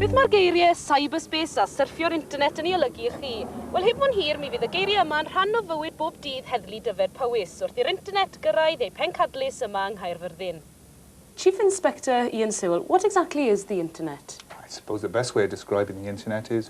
Beth mae'r geiriau 'cyberspace' a 'syrffio'r internet' yn ei olygu i chi? Wel, heb fod yn hir, mi fydd y geiriau yma yn rhan o fywyd bob dydd Heddlu Dyfed Powys, wrth i'r internet gyrraedd ei phencadlys yma yng Nghaerfyrddin. Chief Inspector Ian Sewell, what exactly is the internet? I suppose the best way of describing the internet is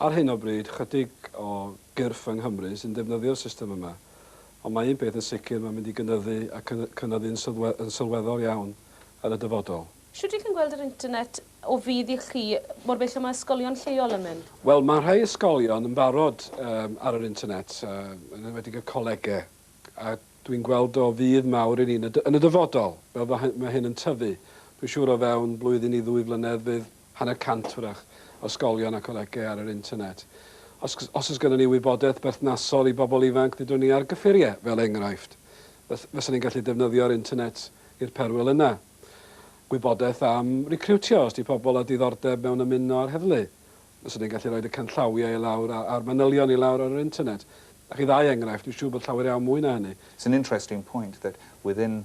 Ar hyn o bryd, chydig o gyrff yng Nghymru sy'n defnyddio'r system yma, ond mae un peth yn sicr, mae'n mynd i gynyddu ac yn cynyddu'n yn sylweddol iawn yn y dyfodol. Shwt y'ch chi'n gweld yr internet o fudd i chi, mor bell a mae ysgolion lleol yn mynd? Wel, mae rhai ysgolion yn barod ar yr internet, yn enwedig y colegau, a dwi'n gweld o fudd mawr i ni yn y dyfodol, fel mae hyn yn tyfu. Dwi'n siŵr o fewn blwyddyn i ddwy flynedd fydd hanner cant hwyrach, o ysgolion a colegau ar yr internet. Os os oes gennym ni wybodaeth berthnasol i bobl ifanc, dydwn ni ar gyffuriau, fel enghraifft. Fys fysa ni'n gallu defnyddio'r internet i'r perwyl yna. Gwybodaeth am recriwtio, os di pobl â diddordeb mewn ymuno â'r heddlu. Fyswn ni'n gallu rhoid y canllawiau i lawr a a'r manylion i lawr ar yr internet. A chi ddau enghraifft, dwi'n siŵr bod llawer iawn mwy na hynny. It's an interesting point that within